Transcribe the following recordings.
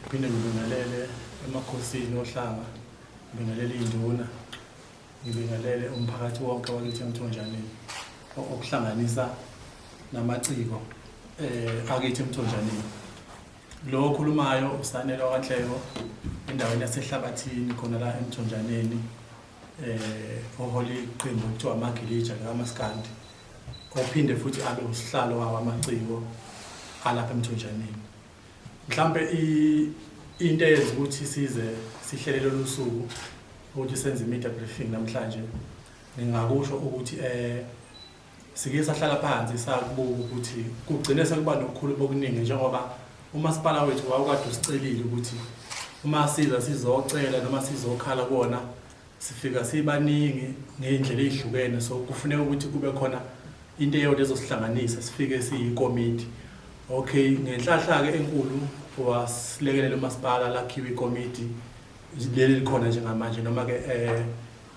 Ngiphinde ngibingelele emakhosini ohlanga, ngibingelele iy'nduna, ngibingelele umphakathi wonke wakithi emthonjaneni o- okuhlanganisa namaciko um akithi emthonjaneni. Lo okhulumayo usanele wakwanhleko endaweni yasehlabathini khona la emthonjaneni um ohole iqembu okuthiwa amagilija likamaskandi ophinde futhi abe usihlalo wawo amaciko alapha emthonjaneni Mhlampe into eyenza ukuthi size sihlele lolu suku ukuthi senze i-media briefing namhlanje ngingakusho ukuthi eh sike sahlala phansi sakubuka ukuthi kugcine sekuba nokukhuluma okuningi njengoba umasipala wethu wawukade usicelile ukuthi uma siza sizocela noma sizokhala kuwona sifika sibaningi ngey'ndlela ey'hlukene so kufuneka ukuthi kube khona into eyodwa ezosihlanganisa sifike siyikomiti okay ngenhlahla-ke enkulu wasilekelela umasipala lakhiwa ikomiti leli likhona njengamanje noma-ke um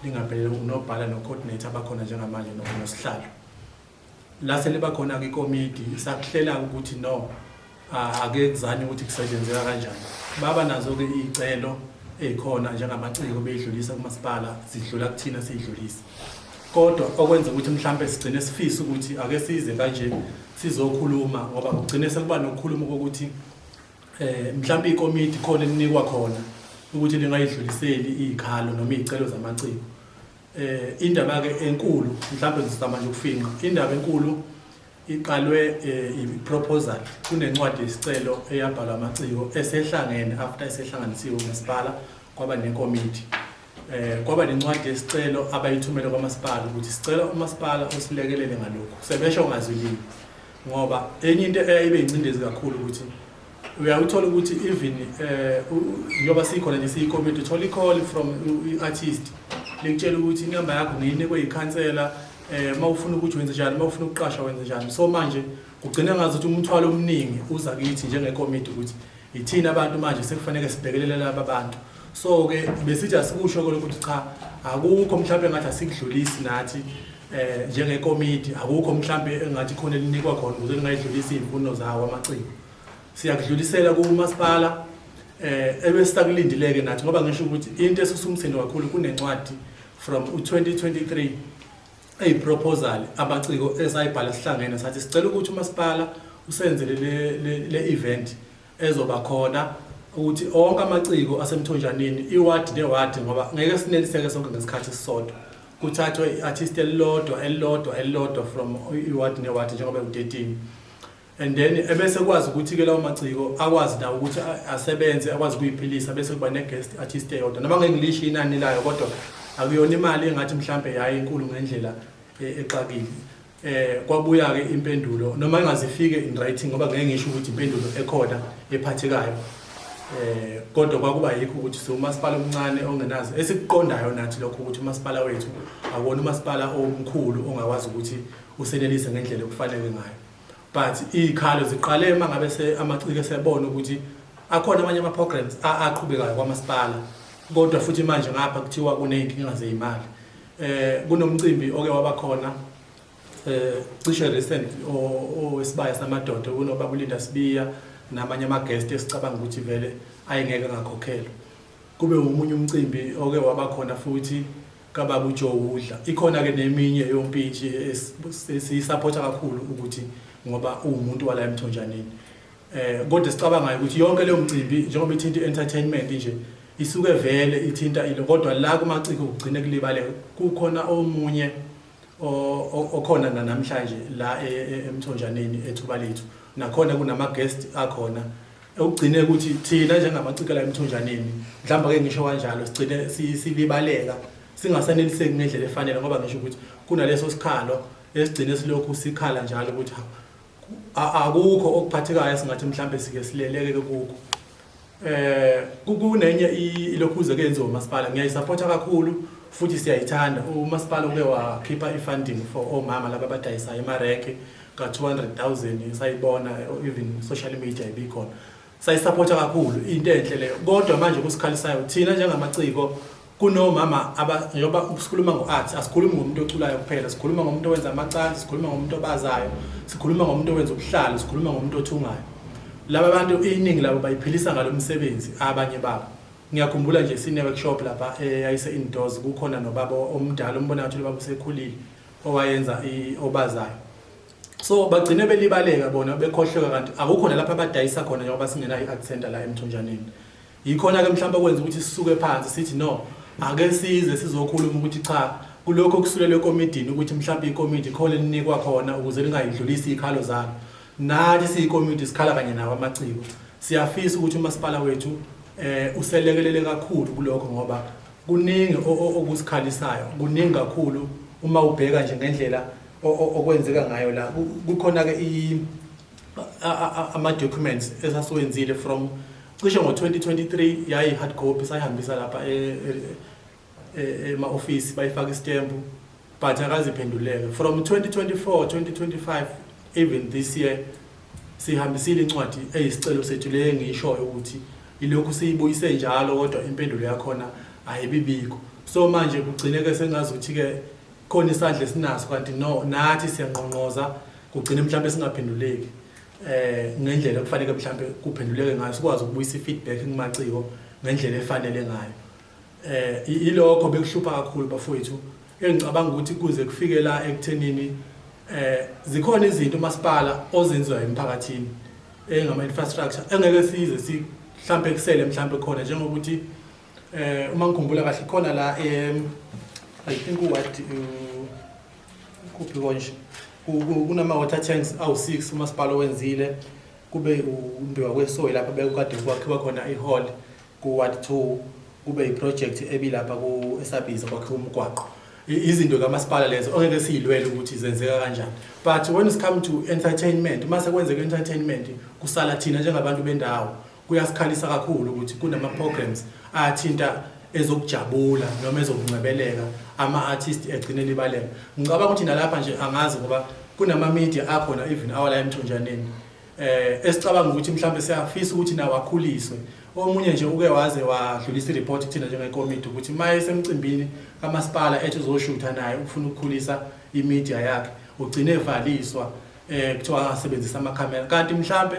lingaphelele unobhala no-coordinator abakhona njengamanje nosihlalo lase liba khona kwikomidi sakuhlela ukuthi no ake kuzanywe ukuthi kusetshenzeka kanjani baba nazo-ke iy'celo ey'khona njengamaciko beyidlulisa kumasipala zidlula kuthina siyidlulisa kodwa okwenza ukuthi mhlawumbe sigcine sifise ukuthi ake size kanje sizokhuluma ngoba kugcine sekuba nokukhuluma kokuthi eh mhlawumbe ikomiti khona elinikwa khona ukuthi lingayidluliseli izikhalo noma izicelo zamaciko Eh indaba ke enkulu mhlawumbe ngizama nje ukufinqa. Indaba enkulu iqalwe eh, i-proposal kunencwadi yesicelo eyabhalwa amaciko esehlangene after esehlanganisiwe umasipala kwaba nekomiti eh kwaba nencwadi yesicelo abayithumele kwamasipala ukuthi sicela umasipala usilekelele ngalokhu sebesho ngazwilini ngoba enye into eyayibe incindezi kakhulu ukuthi uyawuthola ukuthi even um njengoba sikhona nje siyikomiti uthola i-call from i-artist likutshela ukuthi inamba yakho ngiyinikwe yikhansela um uma ufuna ukuthi wenze njani uma ufuna ukuqasha wenze njani so manje kugcina ngazi ukuthi umthwalo omningi uza kithi njengekomiti ukuthi Yithina abantu manje sekufanele sibhekelele laba bantu. So ke besithi asikusho ke ukuthi cha akukho mhlawumbe ngathi asikudlulisi nathi eh njengekomiti akukho mhlawumbe engathi khona elinikwa khona ukuze lingayidlulisa izimfuno zawo amaciko. Siyakudlulisela kumasipala eh ebesisakulindileke nathi ngoba ngisho ukuthi into esusumsindo kakhulu kunencwadi from u2023 eyiproposal abaciko esayibhala sihlangene sathi sicela ukuthi umasipala usenzele le le event ezoba khona ukuthi onke amaciko asemthonjaneni iward neward ngoba ngeke sineliseke sonke ngesikhathi sisodwa kuthathwe i-artist elilodwa elilodwa elilodwa from iward neward njengoba ku-13 and then ebese kwazi ukuthi ke lawo maciko akwazi nawo ukuthi asebenze akwazi kuyiphilisa bese kuba ne guest artist eyodwa noma ngeke ngilisho inani layo kodwa akuyona imali engathi mhlambe yayi inkulu ngendlela e, exakile eh kwabuya ke impendulo noma ingazifike in writing ngoba ngeke ngisho ukuthi impendulo ekhona ephathekayo eh kodwa kwakuba yikho ukuthi so umasipala omncane ongenazi esikuqondayo nathi lokho ukuthi umasipala wethu akona umasipala omkhulu ongakwazi ukuthi usenelise ngendlela okufanele ngayo but iy'khalo ziqale uma ngabe se amaciko esebona ukuthi akhona amanye ama-programs a- aqhubekayo kwamasipala kodwa futhi manje ngapha kuthiwa kuney'nkinga zey'mali eh kunomcimbi oke waba khona eh cishe recent o- owesibaya samadoda kunobaba ulinda sibiya namanye ama-guest esicabanga ukuthi vele ayengeke ngakhokhelwa kube umunye umcimbi oke waba khona futhi kababa uJoe udla ikhona ke neminye yompintshi esiyisapota kakhulu ukuthi ngoba uwumuntu wala emthonjaneni eh kodwa sicabangayo ukuthi yonke leyo mcimbi njengoba ithinta entertainment nje isuke vele ithinta ilo kodwa la kumaciko kugcine kulibale kukhona omunye okhona namhlanje la e, e, emthonjaneni ethuba lethu nakhona kunama guest akhona Ekugcine ukuthi thina njengamaciko la emthonjaneni mhlawumbe ake ngisho kanjalo sigcine silibaleka singasaneliseki ngendlela efanele ngoba ngisho ukuthi kunaleso sikhalo esigcine silokhu sikhala njalo ukuthi akukho okuphathekayo esingathi mhlawumbe sike sileleke kukho eh kunenye ilokhuze kenziwa umasipala ngiyayisupporta kakhulu futhi siyayithanda umasipala uke wakhipha ifunding for omama laba abadayisayo emarenke ka-200,000 sayibona even social media ibikhona sayisapotha kakhulu into enhle leyo kodwa manje kusikhalisayo thina njengamaciko kunomama njengoba sikhuluma ngo-art asikhulumi ngomuntu oculayo kuphela sikhuluma ngomuntu owenza amacansi sikhuluma ngomuntu obazayo sikhuluma ngomuntu owenza ubuhlalo sikhuluma ngomuntu othungayo laba bantu iningi labo bayiphilisa ngalo msebenzi abanye babo ngiyakhumbula nje sine-workshop lapha eyayise-indoors eh, kukhona nobaba omdala umbona ngathi lobaba usekhulile owayenza obazayo so bagcine belibaleka bona bekhohleka kanti akukho nalapha abadayisa khona njengoba singenayo i-art center la emthonjaneni yikhona-ke mhlawumbe okwenza ukuthi sisuke phansi sithi no ake size sizokhuluma ukuthi cha kulokho okusulelwe ekomidini ukuthi mhlawumbe ikomidi khona elinikwa khona ukuze lingayidlulisi iy'khalo zalo nathi siyikomidi sikhala kanye nawo amaciko siyafisa ukuthi umasipala wethu um uselekelele kakhulu kulokho ngoba Kuningi okusikhalisayo, kuningi kakhulu uma ubheka nje ngendlela okwenzeka ngayo la. Kukhona-ke ama-documents esasiwenzile from cishe ngo-2023 yayi-hard copy sayihambisa lapha e, e, e, ema-ofisi bayifaka isitembu but akaziphenduleke from 2024 2025 even this year sihambisile incwadi eyisicelo sethu le engiyishoyo ukuthi ilokhu siyibuyise njalo kodwa impendulo yakhona ayibibikho so manje kugcineke sengazi ukuthi-ke khona isandla esinaso kanti no nathi siyanqonqoza kugcine mhlawumbe singaphenduleki eh ngendlela kufanele mhlawumbe kuphenduleke ngayo sikwazi ukubuyisa i-feedback kumaciko ngendlela efanele ngayo Eh ilokho bekuhlupha kakhulu bafowethu engicabanga ukuthi kuze kufike la ekuthenini eh zikhona izinto umasipala ozenziwa emphakathini engama infrastructure engeke size si mhlambe kusele mhlambe khona njengokuthi eh uma ngikhumbula kahle khona la em I think what kuphi konje kunama water tanks awu6 umasipala wenzile kube umbiwa kwesoyi lapha bekukade kwakhiwa khona ihall Ku-ward two kube yiprojekthi ebilapha ku-esabhiza kwakhiwa umgwaqo I- izinto kamasipala lezo ongeke siyilwele ukuthi zenzeka kanjani but when it's come to entertainment uma sekwenzeka entertainment kusala thina njengabantu bendawo kuyasikhalisa kakhulu ukuthi kunama-programs athinta ezokujabula noma ezokungcebeleka ama-artist egcine elibaleka ngicabanga ukuthi nalapha nje angazi ngoba kunama-media akhona even awala emthonjaneni eh esicabanga ukuthi mhlambe siyafisa ukuthi nawo akhuliswe omunye nje uke waze wadlulisa ireport kuthina njengekomiti ukuthi uma esemcimbini kamasipala ethi uzoshutha naye ufuna ukukhulisa imedia yakhe ugcine evaliswa eh kuthiwa angasebenzisa amakhamera kanti mhlambe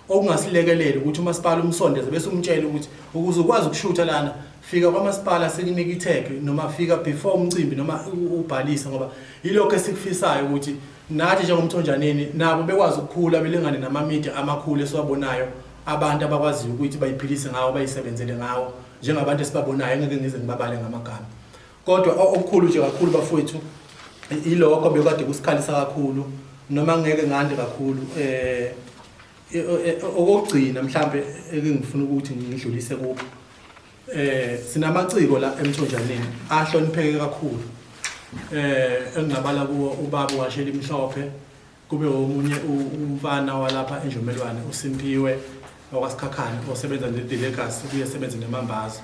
okungasilekelela ukuthi umasipala umsondeze bese umtshele ukuthi ukuze ukwazi ukushutha lana fika kwamasipala sikunike itag noma fika before umcimbi noma ubhalise ngoba yilokho esikufisayo ukuthi Nathi njengomthonjaneni nabo bekwazi ukukhula belingane namamedia amakhulu esiwabonayo abantu abakwaziyo ukuthi bayiphilise ngawo bayisebenzele ngawo njengabantu esibabonayo engeke ngize ngibabale ngamagama kodwa okukhulu nje kakhulu bafowethu ilokho bekade kusikhalisa kakhulu noma ngeke ngande kakhulu eh okugcina mhlambe engifuna ukuthi ngidlulise kubo Eh sinamaciko la emthonjaneni ahlonipheke kakhulu. Eh engingabala kuwo ubaba washela imhlophe kube omunye umfana walapha enjomelwane uSimpiwe wakwaSikhakhane osebenza neDelegacy kuye sebenza nemambazo.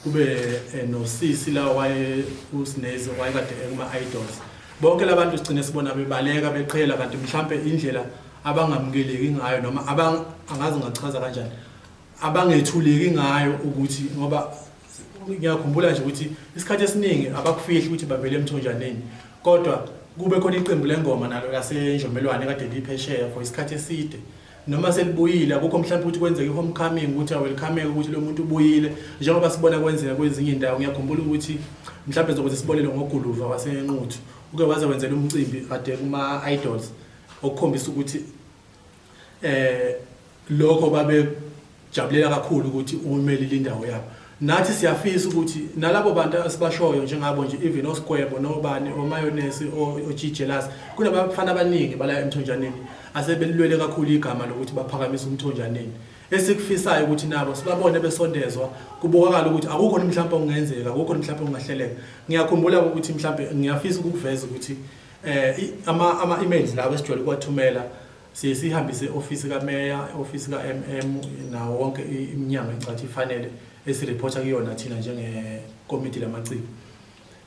Kube eh, nosisi la waye uSinezi wayekade ekuma idols. Bonke labantu sigcine sibona bebaleka beqhela kanti mhlambe indlela abangamukeleki ngayo noma abang angazi ngachaza kanjani abangethuleki ngayo ukuthi ngoba ngiyakhumbula nje ukuthi isikhathi esiningi abakufihli ukuthi bavele emthonjaneni kodwa kube khona iqembu lengoma nalo lasenjombelwane kade liphesheya for isikhathi eside noma selibuyile akukho mhlawumbe ukuthi kwenzeke i-homecoming ukuthi awelcomeke ukuthi lo muntu ubuyile njengoba sibona kwenzeka kwezinye indawo ngiyakhumbula ukuthi mhlawumbe zokuze sibolele ngoguluva wasenquthu uke waze wenzela umcimbi kade kuma-idols okukhombisa ukuthi eh lokho babe jabulela kakhulu ukuthi umeli lindawo yabo nathi siyafisa ukuthi nalabo bantu asibashoyo njengabo nje even oskwebo nobani omayonesi ojijelas kunabafana abaningi bala emthonjaneni asebelilwele kakhulu igama lokuthi baphakamise umthonjaneni esikufisayo ukuthi nabo sibabone besondezwa kubukakala ukuthi akukho mhlawumbe okungenzeka akukho mhlawumbe okungahleleka ngiyakhumbula ukuthi mhlawumbe ngiyafisa ukuveza ukuthi eh ama ama emails lawo esijwayele ukuwathumela siye sihambise office kameya office ka MM nawo wonke iminyango encathi ifanele esireporta kuyona thina njenge committee lamaciko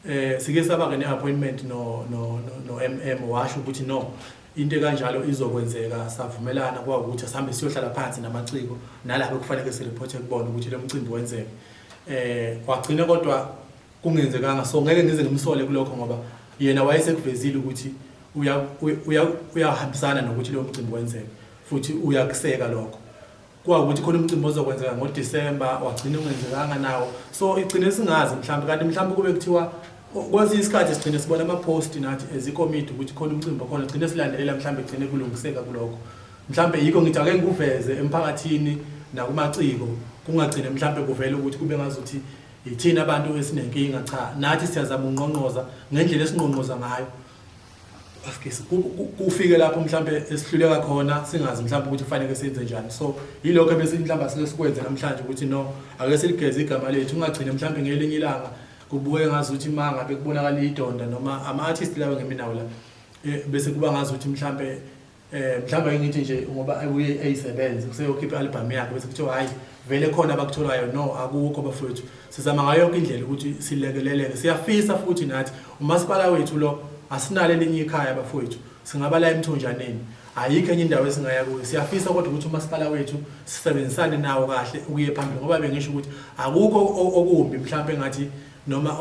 eh sike saba ke ne appointment no no no MM washo ukuthi no into ekanjalo izokwenzeka savumelana kwawukuthi asihambe siyohlala phansi namaciko nalabo kufanele sireporte kubona ukuthi lo mcimbi wenzeke eh wagcina kodwa kungenzekanga so ngeke ngize ngimsole kulokho ngoba yena wayesekuvezile ukuthi uyahambisana nokuthi lowo mcimbi wenzeke futhi uyakuseka lokho kwawukuthi khona umcimbi ozokwenzeka ngodisemba wagcina ungenzekanga nawo so igcine singazi mhlawumbe kanti mhlawumbe kube kuthiwa kwesinye isikhathi sigcine sibona amaphosti nathi as ikomidi ukuthi khona umcimbi okhona sigcine silandelela mhlawumbe kugcine kulungiseka kulokho mhlawumbe yikho ngithi ake ngikuveze emphakathini nakumaciko kungagcine mhlawumbe kuvele ukuthi kube ngazuthi Yithina abantu esinenkinga cha nathi siyazama unqonqoza ngendlela esinqonqoza ngayo askisi kufike lapho mhlambe esihluleka khona singazi mhlambe ukuthi kufanele senze njani so yilokho ebese mhlambe asike sikwenze namhlanje ukuthi no ake siligeze igama lethu ungagcine mhlambe ngelinye ilanga kubukeke ngazi ukuthi uma ngabe kubonakala idonda noma ama-artist lawo ngeminawo la eh, bese kuba ngazi ukuthi mhlambe Eh mhlawumbe ayengithi nje ngoba abuye eyisebenze kuseyokhipha album yakhe bese kuthiwa hayi vele khona abakutholayo no akukho bafowethu sizama ngayo yonke indlela ukuthi silekeleleke siyafisa futhi nathi umasipala wethu lo asinalo elinye ikhaya bafowethu singaba la emthonjaneni ayikho enye indawo esingaya kuyo siyafisa kodwa ukuthi umasipala wethu sisebenzisane nawo kahle ukuye phambili ngoba bengisho ukuthi akukho okumbi mhlawumbe ngathi noma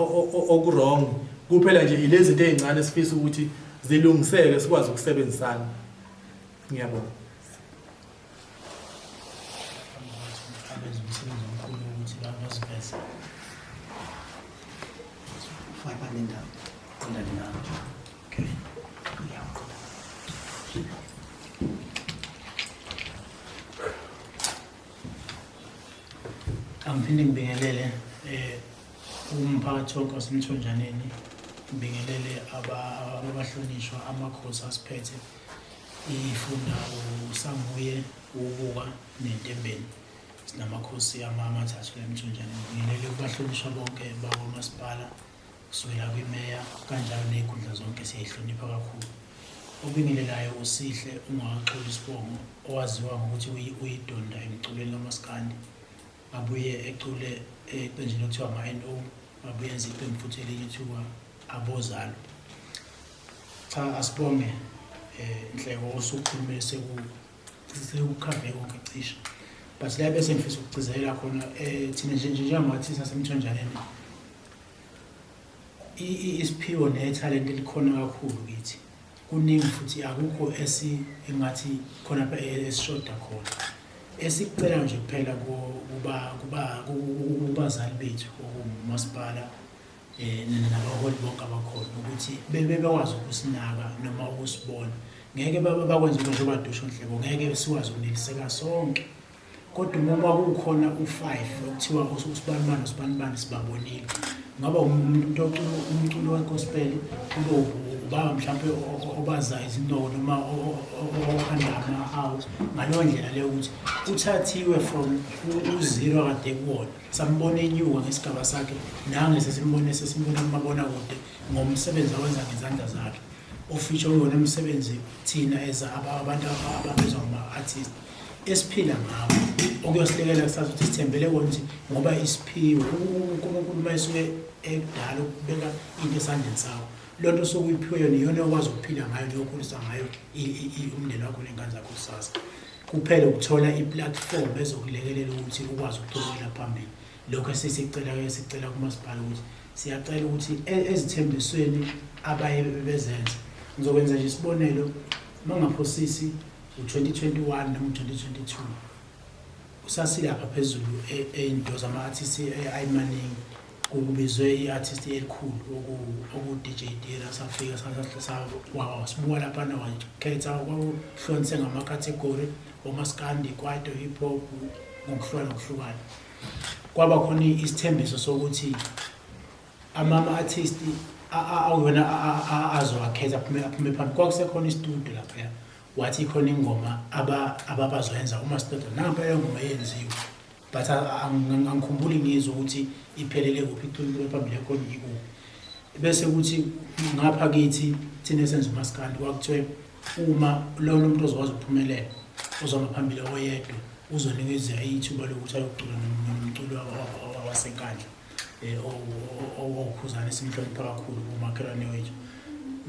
okuwrong kuphela nje ilezinto ezincane sifisa ukuthi zilungiseke sikwazi ukusebenzisana ngiyabonga Angiphinde ngibingelele eh umphakathi wonke wasemthonjaneni ngibingelele ababahlonishwa amakhosi asiphethe ifunda usanguye ubuka nentembeni sinamakhosi amathathu emthonjaneni ngibingelele kubahlonishwa bonke bakwamasipala kusukela kwimeya kanjalo ney'khundla zonke siyayihlonipha kakhulu obingelelayo usihle ungakaxoli isibongo owaziwa ngokuthi uyidonda emculweni lamaskandi abuye ecule eqenjini okuthiwa ama-no abuye enza iqembu futhi elinye kuthiwa abozalo cha asibonge um nhleko osukhulume sekukhave konke cisha but la bese ngifisa ukugcizelela khona um thina njenjenjengamathisasemthonjaneni isiphiwo nethalente likhona kakhulu kithi kuningi futhi akukho esi engathi khona pha e-, esishoda khona esikucela nje kuphela kuba kuba kubazali bethu okumasipala eh nabaholi bonke abakhona ukuthi bebe bekwazi ukusinaka noma ukusibona ngeke baba bakwenza njengoba dusho nhlebo ngeke siwazi ukuneliseka sonke kodwa uma kwakukhona u-five okuthiwa usibanibani usibanibani sibabonile ngaba umuntu ocula umculo wegospel kube ubaba mhlawumpe obazayo izindobo noma okhanda amahawu ngaleyo ndlela leyo ukuthi uthathiwe from uziro kade kuwona sambona enyuka ngesigaba sakhe nange sesimbone sesimbona kumabona kude ngomsebenzi awenza ngezandla zakhe ofisho uyona umsebenzi thina as abantu ababizwa ngama-artist esiphila ngawo okuyosilekelela kusasa ukuthi sithembele kona ukuthi ngoba isiphiwo unkulunkulu uma esuke ekudala ukubeka into esandleni sawo loo nto osuke uyiphiwe yona iyona okwazi ukuphila ngayo neyokhulisa ngayo umndeni wakho ney'ngane zakho kusasa kuphela ukuthola iplatform ezokulekelela ukuthi ukwazi ukuqhubekela phambili lokho esisicela ke sicela kumasipala ukuthi siyacela ukuthi e-, ezithembisweni abaye bezenze ngizokwenza nje isibonelo mangaphosisi ngo-2021 nango-2022 usasile apha phezulu ey'nto zama-artist ayimaningi kubizwe i-artist elikhulu oku-dj dira safika sibuka laphana wakhetha kwakuhlonise ngama-category omaskandi kwaito hip hop ngokuhlukana ngokuhlukana kwaba khona isithembiso sokuthi amama artist awona azowakhetha aphume aphume phambi kwakusekhona istudio lapha wathi khona ingoma ababazoyenza uma siqeda nampa leyo ngoma eyenziwe but angikhumbuli ngizwe ukuthi iphelele kuphi iculiwe phambili yakhona ikuphi bese kuthi ngapha kithi thina esenza umaskandi kwakuthiwe uma lona umuntu ozokwazi ukuphumelela uzohamba phambili oyedwa uzonikezwa ithuba lokuthi ayocula nomculo wasenkandla owukhuzana esimhlonipha kakhulu kumakhelwane wethu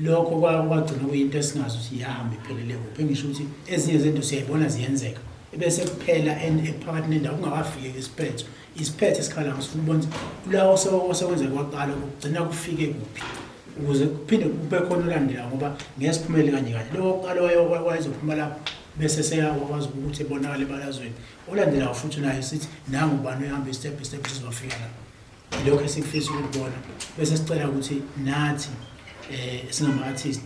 lokho kwagcina kuyinto esingazi ukuthi iyahambe iphelele kuphi engisho ukuthi ezinye zezinto siyayibona ziyenzeka ebese kuphela ephakathi nendawo kungakafiki isiphetho isiphetho esikhala ngisifuna ubona kulawo sekwenzeka kwaqala kugcina kufike kuphi ukuze kuphinde kube khona olandela ngoba ngeke siphumele kanye kanye lokho kuqala wayezophuma lapho bese seyakwazi ukuthi ebonakale ebalazweni Olandelayo futhi naye sithi nangu ubani uhambe step by step sizofika lapho. Lokho esikufisa ukubona bese sicela ukuthi nathi eh singama artist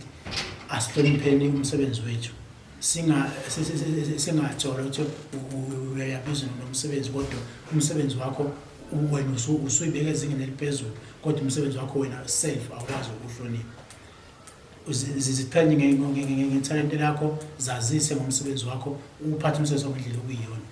asihlonipheni umsebenzi wethu. Singa singathola ukuthi uyabiza nomsebenzi kodwa umsebenzi wakho wena usuyibeka ezingeni eliphezulu kodwa umsebenzi wakho wena self awukwazi ukuhlonipha. ziziqhenye ngethalente lakho zazise ngomsebenzi wakho uphathe umsebenzi wakho ngendlela okuyiyona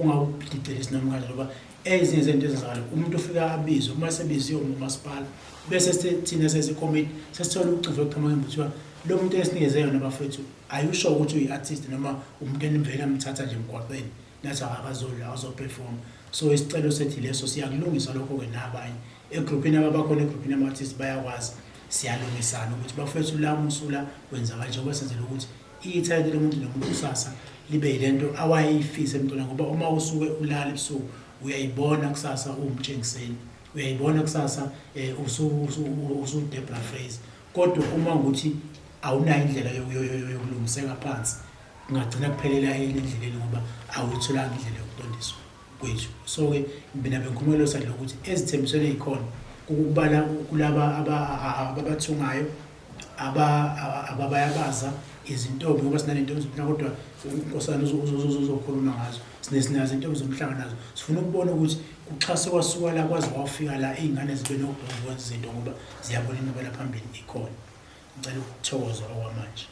ungawudideli isinomkanje ngoba ezinye zento ezenzakala umuntu ufika abizwe uma sebiziwe umasipala bese thina sesikomiti sesithola ucuvo ekuqhamakeni kuthiwa lo muntu esinikeze yona bafethu ayusho ukuthi uyi-artist noma umuntu enivele amthatha nje emgwaqeni nathi akakazodla azoperform so isicelo sethi leso siyakulungisa lokho-ke nabanye egruphini ababakhona egruphini yama-artist bayakwazi siyalungisana ukuthi bafethu la musula wenza kanje ngoba senzela ukuthi ithalente lomuntu nomuntu kusasa libe yilento awayeyifise emntwana ngoba uma usuke ulala ebusuku uyayibona kusasa uwumtshengiseni uyayibona kusasa um usudebra phrase kodwa uma ukuthi awunayo indlela yokulungiseka phansi Kungagcina kuphelela yini endleleni ngoba awuyitholanga indlela yokuqondiswa kwethu. So-ke mina bengikhumela sandla ukuthi ezithembisweni ey'khona kukubala kulaba ababathungayo ababayabaza izintombi ngoba sinanentombi zomhlanga kodwa unkosana uzokhuluma ngazo sinesinazo intombi zomhlanga nazo sifuna ukubona ukuthi kuxhase kwasuka la kwaze wafika la iy'ngane zibe nokudongoza izinto ngoba ziyabona imibala phambili ikhona Ngicela ukuthokoza okwamanje.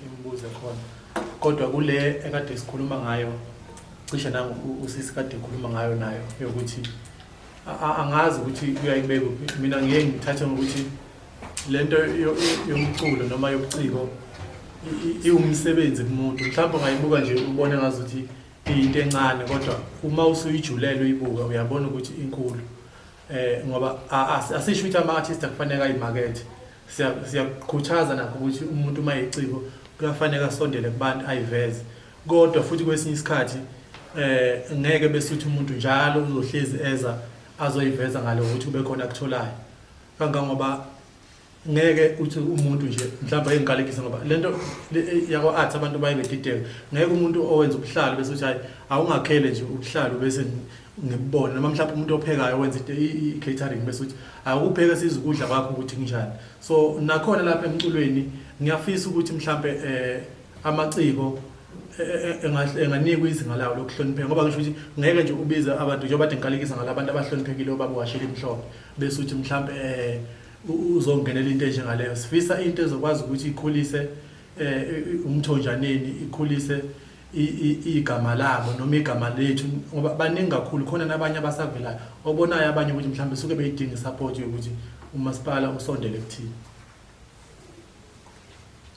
Imibuzo khona. Kodwa kule ekade sikhuluma ngayo cishe nangu usisi kade ekhuluma ngayo nayo yokuthi angazi ukuthi uyayibeka kuphi. Mina ngiye ngithathe ngokuthi le nto yomculo noma yobuciko iwumsebenzi kumuntu mhlawumbe ungayibuka nje ubone ngazuthi iyinto encane kodwa uma usuyijulele uyibuka uyabona ukuthi inkulu eh ngoba asisho ukuthi ama artist akufanele ayimarket siyakukhuthaza nakho ukuthi umuntu uma eciko kuyafanele asondele kubantu ayiveze kodwa futhi kwesinye isikhathi eh ngeke bese uthi umuntu njalo uzohlezi eza azoyiveza ngale ukuthi ube khona akutholayo kangangoba ngeke uthi umuntu nje mhlawumbe ayengikalekisa ngoba lento yakwa art abantu baye bedideka ngeke umuntu owenza ubuhlalo bese uthi hayi awungakhele nje ubuhlalo bese ngibona noma mhlawumbe umuntu ophekayo wenza i-catering bese uthi awukupheke siza ukudla kwakho ukuthi kunjani so nakhona lapha emculweni ngiyafisa ukuthi mhlawumbe um eh, amaciko enganikwa izinga lawo lokuhlonipheka ngoba ngisho ukuthi ngeke nje ubize abantu njengoba de ngikalekisa ngalabantu abahloniphekile obaba washela imhlophe bese uthi mhlawumbe um uzongenela into enjengaleyo sifisa into ezokwazi ukuthi ikhulise um umthonjaneni ikhulise igama labo noma igama lethu ngoba baningi kakhulu khona nabanye abasavelayo obonayo abanye ukuthi mhlawumbe suke beyidinga isupport yokuthi umasipala usondele kuthini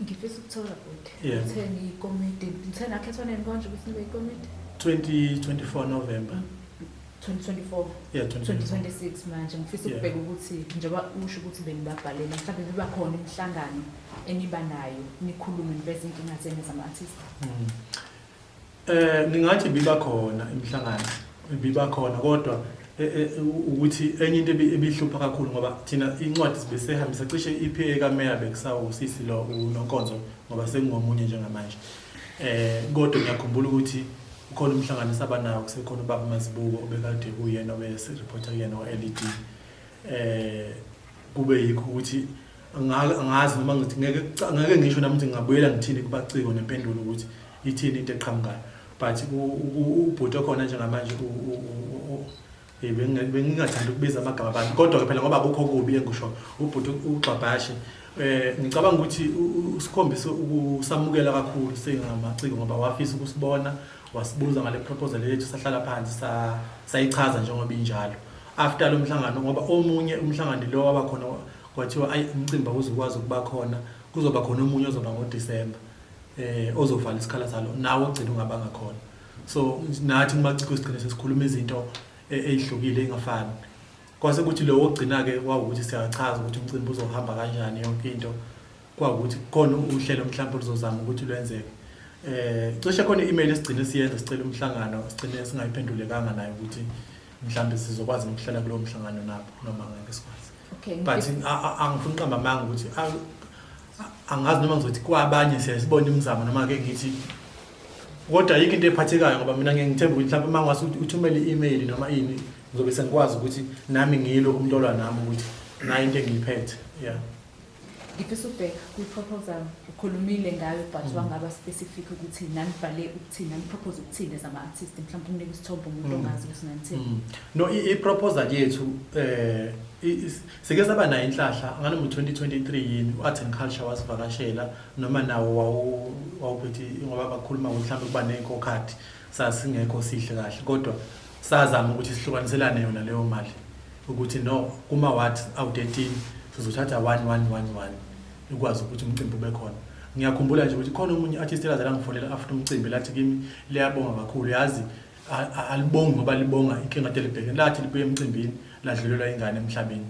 ngifisa ukuthola bhuti Yeah. ngithe ngiyikomiti ngithe nakhethwa nini konje ukuthi nibe yikomiti 2024 November. 2024 Yeah, 2024. 2026 manje ngifisa Yeah. ukubheka ukuthi njengoba usho ukuthi benibabhalele mhlawumbe biba khona imihlangano eniba nayo nikhulume niveze inkinga zenu zama-artist Mm. Eh ngingathi biba khona imihlangano biba khona kodwa eh, eh, ukuthi enye into ebihlupha kakhulu ngoba thina incwadi sibe sehambisa cishe iPA kaMeya bekusawu sisi lo uNonkonzo ngoba sengingomunye njengamanje eh kodwa ngiyakhumbula ukuthi ukhona umhlangano esaba nawo kusekhona ubaba Mazibuko obekade kuyena obese reporter kuyena oLED eh kube yikho ukuthi angazi noma ngithi ngeke ngeke ngisho nami ukuthi ngingabuyela ngithini kubaciko nempendulo ukuthi ithini into eqhamukayo but ubhuti okhona njengamanje bengingathanda ukubiza amagama abantu kodwa-ke phela ngoba kukho kubi engisho ubhuti ugxabhashe um eh, ngicabanga ukuthi usikhombise ukusamukela kakhulu singamaciko ngoba wafisa ukusibona wasibuza ngale proposal yethu sahlala phansi sayichaza njengoba injalo after lo mhlangano ngoba omunye umhlangano lo wabakhona kwathiwa ayi umcimbi awuze ukwazi ukuba khona kuzoba khona omunye ozoba ngoDisemba eh ozovala isikhala salo nawo ogcina ungabanga khona so nathi kumaciko sigcine sesikhuluma izinto e-, ezihlukile ingafani kwase kuthi lo ogcina ke kwawukuthi siyachaza ukuthi umcimbi uzohamba kanjani yonke into kwawukuthi khona uhlelo mhlawumbe luzozama ukuthi lwenzeke eh cishe khona i-email esigcine siyenza sicela umhlangano sigcine singayiphendulekanga nayo ukuthi mhlawumbe sizokwazi ukuhlala kulowo mhlangano nabo noma ngeke sikwazi Okay, but ngifisa- a- a- angifuni uqamba amanga ukuthi a- a- angazi noma ngizothi kwabanye siyayisibona imizamo noma ke ngithi kodwa yikho into ephathekayo ngoba mina ngeke ngithembe ukuthi mhlawumbe uma ngase uthumele i-email noma ini ngizobe sengikwazi ukuthi nami ngiyilo umuntu olwa nami ukuthi nayo into engiyiphethe ya Ngifisa ukubheka kwi-proposal ukhulumile ngayo but mm. wangaba specific ukuthi nanibhale ukuthini nanipropose ukuthini as ama-artist mhlawumbe umnika isithombe umuntu mm. ongazi ukuthi nanithini mm. no i-proposal yethu eh sike saba nayo inhlahla ngane ngo-2023 yini u-art and culture wasivakashela noma nawo wawuphethe ngoba bakhuluma mhlawumbe kuba ney'nkokhathi sasingekho sihle kahle kodwa Sazama ukuthi sihlukaniselane yona leyo mali ukuthi no kuma wards awu-13 sizothatha 1111 ikwazi ukuthi umcimbi ube khona ngiyakhumbula nje ukuthi khona omunye artist elaze langifonela after umcimbi lathi kimi liyabonga kakhulu yazi alibongi ngoba libonga inkinga kade libhekene lathi libuye emcimbini ladlulelwa ingane emhlabeni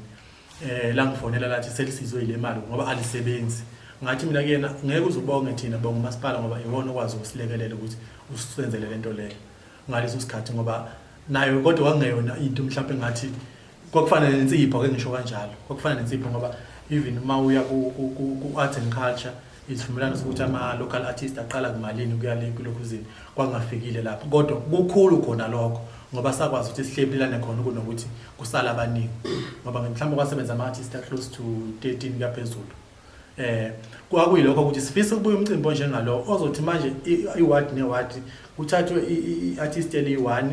eh langifonela lathi selisizwe yile mali ngoba alisebenzi ngathi mina kuyena ngeke uzubonge thina bonga umasipala ngoba iwona okwazi ukusilekelela ukuthi usenzele lento leyo ngaleso sikhathi ngoba nayo kodwa kwakungeyona into mhlawumbe ngathi kwakufana nensipho ke ngisho kanjalo kwakufana nensipho ngoba even uma uya ku-arts and culture isivumelwano sokuthi ama-local artist aqala kumalini ukuya le kulokhu zini kwangafikile lapho kodwa kukhulu khona lokho ngoba sakwazi ukuthi sihlephilane khona kunokuthi kusala abaningi ngoba mhlawumbe kwasebenza ama-artist a-close to 13 kuyaphezulu Eh kwakuyilokho ukuthi sifisa ukubuya umcimbi onjengalo ozothi manje iward neward kuthathwe iartist eliyi-1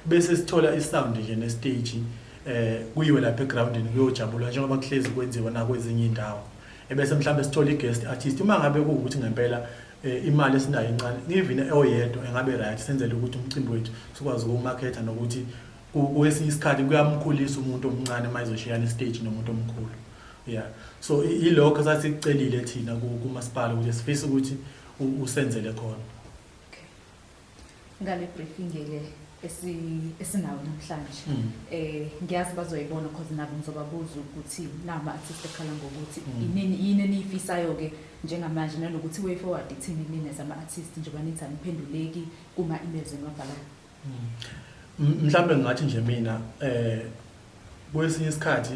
bese sithola isound nje nestage eh kuyiwe lapha egroundini kuyojabulwa njengoba kuhlezi kwenziwa nakwezinye indawo ebese mhlawumbe sithola i-guest artist uma ngabe kuwukuthi ngempela eh, imali esinayo incane ngivine eoyedwa engabe right senzele ukuthi umcimbi wethu sikwazi ukuwumakhetha nokuthi kwesinye isikhathi kuyamkhulisa umuntu omncane uma ezoshiyana istage nomuntu omkhulu yeah so ilokho sasikucelile thina kumasipala ukuthi sifisa ukuthi usenzele khona okay ngale briefing le esi esinawo namhlanje mm. eh ngiyazi bazoyibona because nabo ngizobabuza ukuthi nama artist ekhala ngokuthi mm. inini yini eniyifisayo ke njengamanje nalokuthi way forward ithini mina zama artist njengoba nithi aniphenduleki kuma emails enibabhalayo Mhlambe ngathi nje mina eh kwesinye isikhathi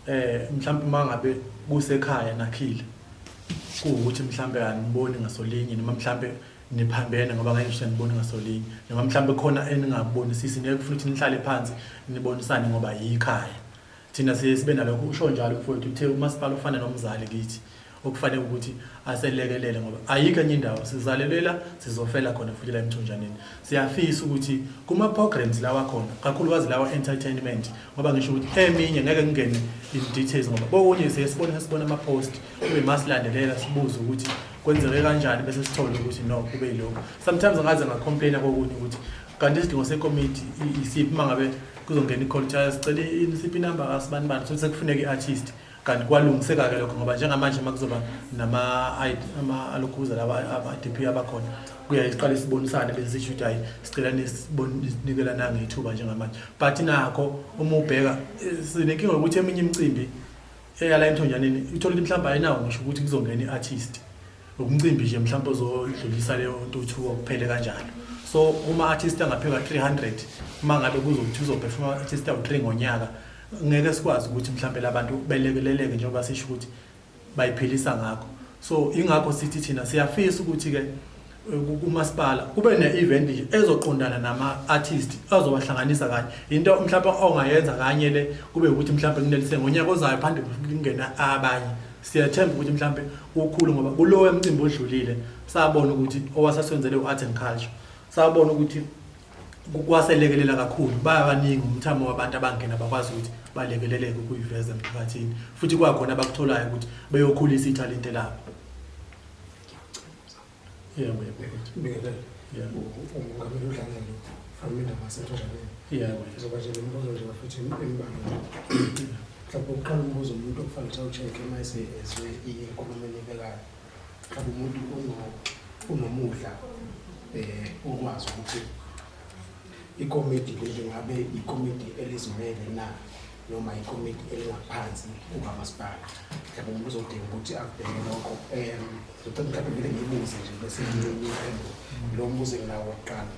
eh mhlambe uma ngabe kusekhaya nakhile kuwukuthi mhlambe aniboni ngasolinye noma mhlambe niphambene ngoba ngeke ngisho nibone ngasolinye noma mhlambe khona eningakubonisisi ngeke ufuna ukuthi nihlale phansi nibonisane ngoba yikhaya Thina siye sibe nalokho usho njalo mfowethu uthe umasipala ufana nomzali kithi okufanele ukuthi aselekelele ngoba ayikho enye indawo sizalelela sizofela khona futhi la emthonjaneni siyafisa ukuthi kuma programs lawa khona kakhulukazi lawa entertainment ngoba ngisho ukuthi eminye ngeke ngingene in details ngoba bokunye siye sibona sibona ama post kube masilandelela sibuze ukuthi kwenzeke kanjani bese sithole ukuthi no kube yilokho sometimes ngaze ngacomplaina kokunye ukuthi kanti isidingo sekomiti isiphi mangabe kuzongena i-call kuthiwa sicela i-mcp number kasibani bani sokuthi sekufuneka i-artist kanti kwalungiseka-ke lokho ngoba njengamanje uma kuzoba nama-alokhuza laba ama-d p abakhona kuyaye siqale sibonisane bese sisho ukuthi hhayi sicela ninikela nangethuba njengamanje but nakho uma ubheka eh, sinenkinga yokuthi eminye imicimbi eyala emthonjaneni uthole ukuthi mhlawumbe ayinawo ngisho ukuthi kuzongena i-artist Umcimbi nje mhlawumbe uzodlulisa leyo ntuthuko kuphele kanjalo. So uma artist angaphika 300 uma ngabe kuzokuthi uzoperforma artist awu3 ngonyaka ngeke sikwazi ukuthi mhlawumbe labantu belekeleleke njengoba sisho ukuthi bayiphilisa ngakho. So ingakho sithi thina siyafisa ukuthi ke kumasipala kube ne-event nje ezoqondana nama-artist azobahlanganisa kanye yinto mhlawumbe ongayenza kanye le kube ukuthi mhlawumbe kunelise ngonyaka ozayo phande kungena abanye Siyathemba ukuthi mhlampe ukhulu ngoba kulowo emcimbi odlulile sabona ukuthi owasaswenzele u-art and culture sabona ukuthi kwaselekelela kakhulu bayabaningi umthamo wabantu abangena bakwazi ukuthi balekeleleke ukuyiveza emphakathini futhi kwakhona abakutholayo ukuthi beyokhulisa ithalente labo Yeah, we have it. Ngeke. Yeah. Ungamele udlale lo. From indaba yaseNtshonaleni. Yeah, we have. Zoba nje lombuzo nje bafethu embalwa. Mhlawumbe uqala umbuzo umuntu okufanele ukuthi awucheck uma esezwe inkulumo enibekayo. Mhlawumbe umuntu uno unomudla eh ukwazi ukuthi ikomidi leli ngabe ikomidi elizimele na noma ikomiti elingaphansi kukamasipala yabo umuntu uzodinga ukuthi abheke lokho um ngicela mhlawumbe kumele ngiyibuze nje bese ngiyiphendula lo mbuzo enginawo wokuqala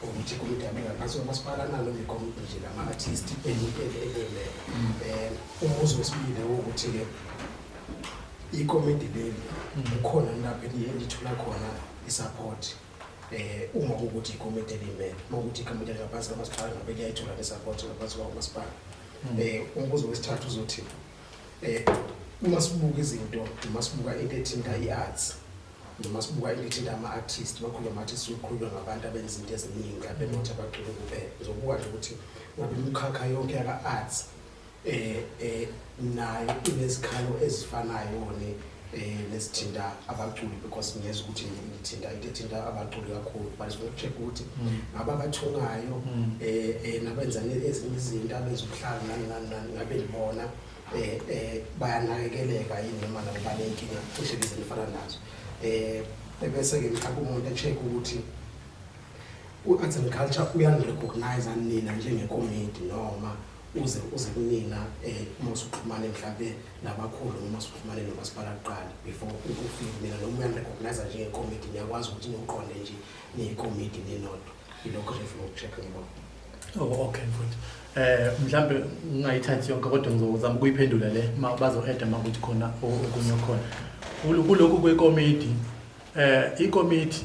ukuthi ikomiti yami ngaphansi komasipala nalo ngekomiti nje lama-artist elele um umbuzo wesibili wokuthi-ke ikomiti leli kukhona lapho enithola khona i-support Eh uma ukuthi ikomiti elimele, uma ukuthi ikomiti elingaphansi kamasipala ngabe liyayithola nesapoti ngaphansi kwawo masipala. Hmm. Eh umbuzo wesithathu uzothi eh uma sibuka izinto, uma sibuka into ethinta i-arts, noma sibuka ilithinta ama-artist bakhuluma ngathi sikhuluma ngabantu abenzinto eziningi abenothi abaculi kuphela ngizobuka nje ukuthi ngabe imikhakha yonke yaka-arts eh eh nayo inezikhalo ezifanayo ne eh nesithinta abaculi because ngiyeza ukuthi ngithinta into ethinta abaculi kakhulu but sifuna ukucheck ukuthi mm. ngaba abathungayo mm. eh eh nabenza ezinye izinto abenza ubuhlanga nani nani nani ngabe libona eh eh bayanakekeleka yini noma nabo banenkinga cishe izinto efana nazo eh bese ke mhlawumbe umuntu echeck ukuthi u-arts and culture uyangirecognize anina njengekomiti noma uze uze kunina eh uma usuxhumana mhlambe nabakhulu uma usuxhumana nomasipala kuqala before ukufika mina noma uyangirecognize nje ngekomiti ngiyakwazi ukuthi ngiqonde nje nekomiti ninodwa yilokho nje ngifuna ukucheck ngibona oh okay mfowethu eh mhlambe ngingayithathi yonke kodwa ngizozama ukuyiphendula le ma bazo-eda uma kuthi khona okunye okhona kulokhu kwekomiti eh ikomiti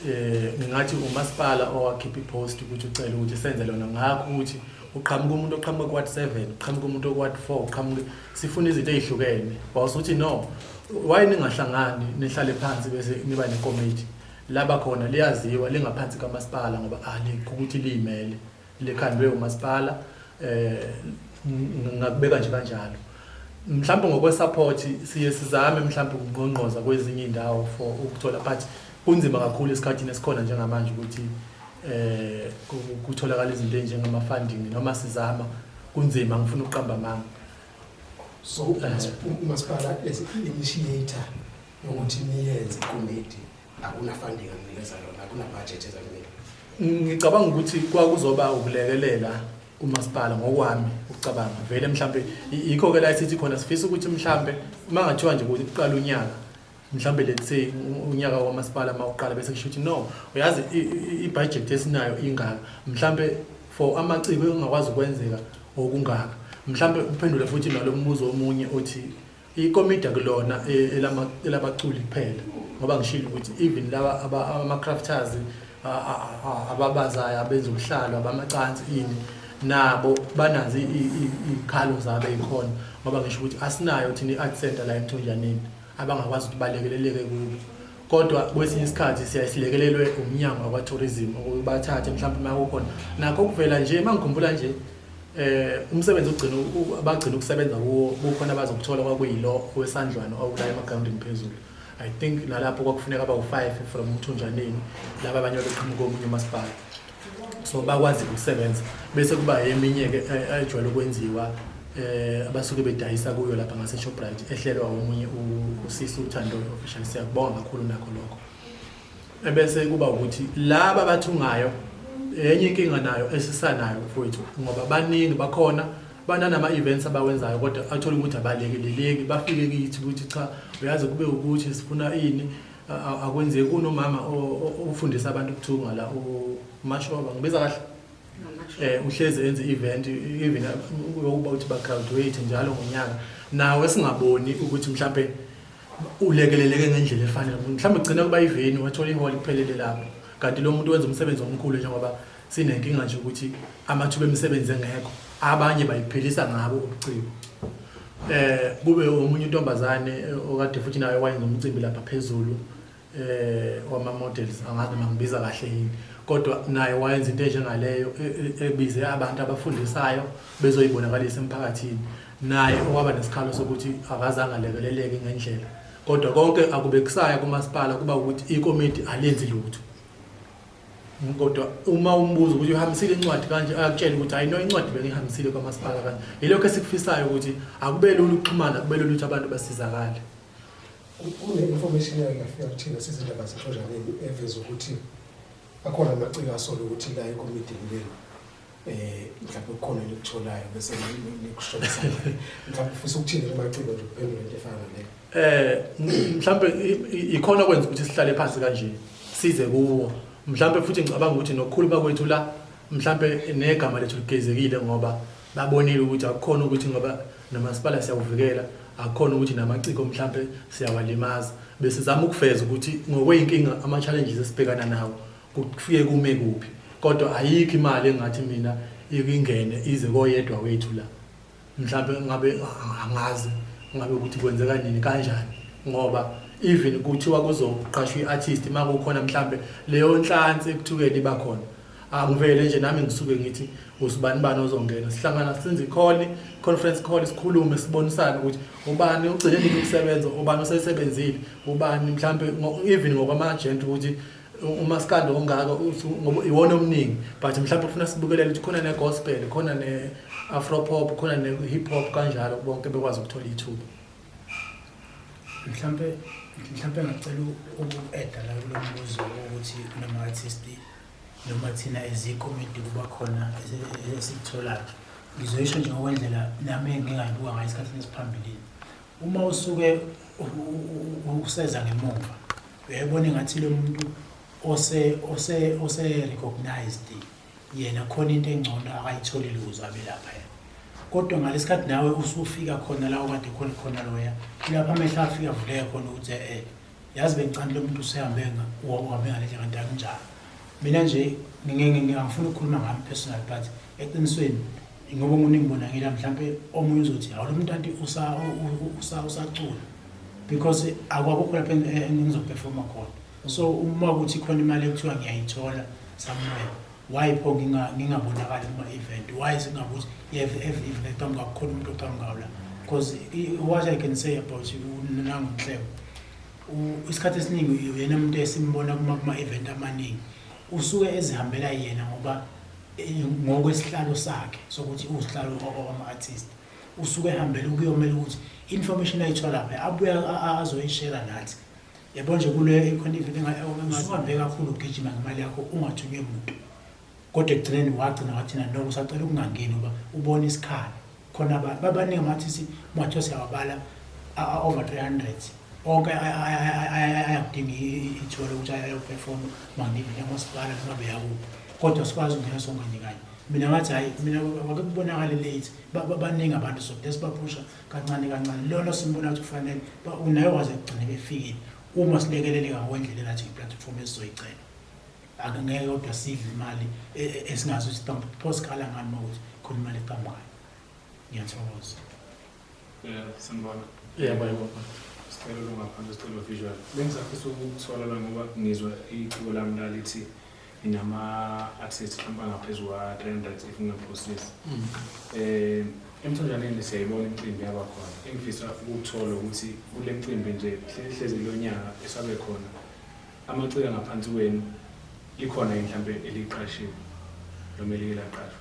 eh ngingathi umasipala owakhipha ipost ukuthi ucela ukuthi senze lona ngakho ukuthi uqhamuka umuntu oqhamuka kwad 7 uqhamuka umuntu okwad 4 uqhamuka sifuna izinto ezihlukene wawusuthi no why ningahlangani nihlale phansi bese niba nekomiti laba khona liyaziwa lingaphansi kamasipala ngoba ali ukuthi liyimele likhandwe umasipala um ngakubeka nje kanjalo mhlawumbe ngokwesupport siye sizame mhlawumbe ukungqongqoza kwezinye iy'ndawo for ukuthola but kunzima kakhulu esikhathini esikhona njengamanje ukuthi um kutholakala izinto ey'njengama-funding noma sizama kunzima ngifuna ukuqamba amanga so umasipala as i-initiator yokuthi niyenze ikomiti akuna funding anginikeza lona akuna budget eza kumina ngicabanga ukuthi kwakuzoba ukulekelela umasipala ngokwami ukucabanga vele mhlambe yikho ke la sithi khona sifisa ukuthi mhlambe uma ngathiwa nje ukuthi kuqala unyaka mhlambe let's say unyaka kwamasipala mawuqala bese kusho ukuthi no uyazi i-budget esinayo ingaka mhlambe for amaciko engakwazi ukwenzeka okungaka mhlambe uphendule futhi nalo mbuzo omunye othi Ikomidi akulona elabaculi kuphela ngoba ngishilo ukuthi even laba ama-crafters ababazayo abenza ubuhlalo abamacansi ini nabo banazo iy'khalo zabo ey'khona ngoba ngisho ukuthi asinayo thina i-art center la emthonjaneni abangakwazi ukuthi balekeleleke kubo kodwa kwesinye isikhathi siyaye silekelelwe umnyango wakwa-tourism ukubathathe mhlawumbe uma kukhona nakho kuvela nje uma ngikhumbula nje eh umsebenzi ugcina abagcina ukusebenza kuwo kukhona abazokuthola kwakuyilo owesandlwana okula emagrawundini phezulu i think nalapho kwakufuneka aba u-five from umthunjaneni laba abanye babeqhamuka omunye umasipala so bakwazi ukusebenza bese kuba eminye-ke ejwayele ukwenziwa eh abasuke bedayisa kuyo lapha ngase Shoprite ehlelwa omunye usisi uthando official siyakubonga kakhulu nakho lokho ebese kuba ukuthi laba abathungayo enye inkinga nayo esisanayo mfowethu ngoba baningi bakhona bananama events abawenzayo kodwa athola ukuthi abalekeleleki bafike kithi ukuthi cha uyazi kube ukuthi sifuna ini akwenzeki kunomama ofundisa abantu ukuthunga la umashoba ngibiza kahle eh uhlezi enze event even ukuba uthi ba graduate njalo ngonyaka nawe singaboni ukuthi mhlambe ulekeleleke ngendlela efanele mhlambe ugcina kuba iveni wathola ihall kuphelele lapho kanti lo muntu wenza umsebenzi omkhulu njengoba Sinenkinga nje ukuthi amathuba emisebenzi engekho abanye bayiphelisa ngabo ubuciko eh kube omunye intombazane eh, okade futhi nayo wayenza umcimbi lapha phezulu eh wama models angazi noma ngibiza kahle yini kodwa naye wayenza into enjengaleyo e- e- ebize abantu abafundisayo bezoyibonakalisa emphakathini naye owaba nesikhalo sokuthi akazange alekeleleke ngendlela kodwa konke akubekusaya kumasipala kuba ukuthi ikomiti alenzi lutho kodwa uma umbuzo ukuthi uhambisile incwadi kanje akutshela ukuthi hayi no incwadi bengihambisile kwamasipala kanje yilokho esikufisayo ukuthi akube lula ukuxhumana kube lula ukuthi abantu basizakale kune-information eyake yafika kuthina sizindaba zexojaneni eveza ukuthi akhona amaciko asola ukuthi la ekomidini lenu eh mhlawumbe kukhona elikutholayo bese nikushonisa mhlawumbe ufisa ukuthini kumaciko nje kuphendula into efana naleyo eh mhlawumbe ikhona kwenza ukuthi sihlale phansi kanje size kuwo mhlawumbe futhi ngicabanga ukuthi nokukhuluma kwethu la mhlawumbe negama lethu ligezekile ngoba babonile ukuthi akukhona ukuthi ngoba nomasipala siyawuvikela akukhona ukuthi namaciko mhlawumbe siyawalimaza besizama ukuveza ukuthi ngokweyinkinga ama-challenges esibhekana nawo Kufike kume kuphi? Kodwa ayikho imali engathi mina ikingene ize koyedwa wethu la. Mhlampe ngabe angazi ngabe ukuthi kwenzeka nini kanjani ngoba even kuthiwa kuzoqashwa iartist makukhona mhlambe leyo nhlansi ekuthukeni iba khona. Angivele nje nami ngisuke ngithi usibani bani ozongena. Sihlangana senze ikholi, conference call sikhulume sibonisane ukuthi ubani ugcine nini ukusebenza, ubani osesebenzile, ubani mhlambe even ngokwama agent ukuthi umaskandi ongaka ngoba iwona omningi but mhlawumbe kufuna sibukelele ukuthi khona ne-gospel khona ne-afropop khona ne-hip hop kanjalo bonke bekwazi ukuthola ithuba mhlawumbe mhlawumbe ngacela uku-eda la kulo mbuzo ukuthi kunama-artist noma thina ezikomidi kuba khona esikutholayo ngizoyisho nje ngokwendlela nami engingayibuka ngayo esikhathini esiphambilini Uma usuke useza ngemuva uyayibona engathi lo muntu ose ose ose recognized yena khona into engcono akayitholile ukuze abe lapha yena kodwa ngalesikhathi nawe usufika khona la okade khona khona loya kulapha amehlo afika avuleke khona ukuthi eh yazi bengicandile umuntu usehambe uhambe ngale ndlela kanti akunjalo mina nje ngingangifuna ukukhuluma ngami personal but eqinisweni ngoba umuntu engibonakela mhlawumbe omunye uzothi hawu lo muntu anti usacula because akwakukho lapho engizoperforma khona so uma kuthi khona imali ekuthiwa ngiyayithola somewhere Why pho nginga ngingabonakali kuma event? Why singabuzi every every event qhamuka kukhona umuntu oqhamukayo la? Because i- what I can say about you nangu Nhleko. u- Isikhathi esiningi uyena umuntu esimbona kuma kuma event amaningi. Usuke ezihambela yena ngoba eh, ngokwesihlalo sakhe sokuthi usihlalo ama artist. Usuke ehambela ukuyomela ukuthi information ayithola phi abuya a- a- azoyishare nathi. yabo nje kule ikhona ivele engasibambe kakhulu ugijima ngemali yakho ungathunywe muntu kodwa ekugcineni wagcina wathina no usacela ukungangeni uba ubona isikhala khona abantu babaningi amathisi ungathiwa siyawabala over 300 onke ayakudinga ithuba lokuthi ayoperforma mangive nyamasipala noma beyakuphi kodwa sikwazi ukungena sonke nje kanye mina ngathi hhayi mina wake kubonakale late babaningi abantu so lesibaphusha kancane kancane lona simbona ukuthi kufanele unaye waze kugcine befikile uma silekeleleka ngokwendlela enathi ngeplatform esizoyicela akungeke kodwa sidle imali e, e, esingazi ukuthi kambe pho sikhala ngani uma ukuthi khona imali eqhamukayo ngiyathokoza um sanibona yebo yebo sicela lungaphandle sicela visual bengizafisa ukuthola la ngoba ngizwa iciko lami lalithi inama-assists hlampe angaphezu kwa-300 if ngingaphosisi um eh, emthonjaneni siyayibona imicimbi yaba khona engifisa ukuthola ukuthi kule mcimbi nje hlezi kulo nyaka esabe khona amaciko angaphansi kwenu likhona yini mhlawumpe eliqashiwe noma elike laqashwa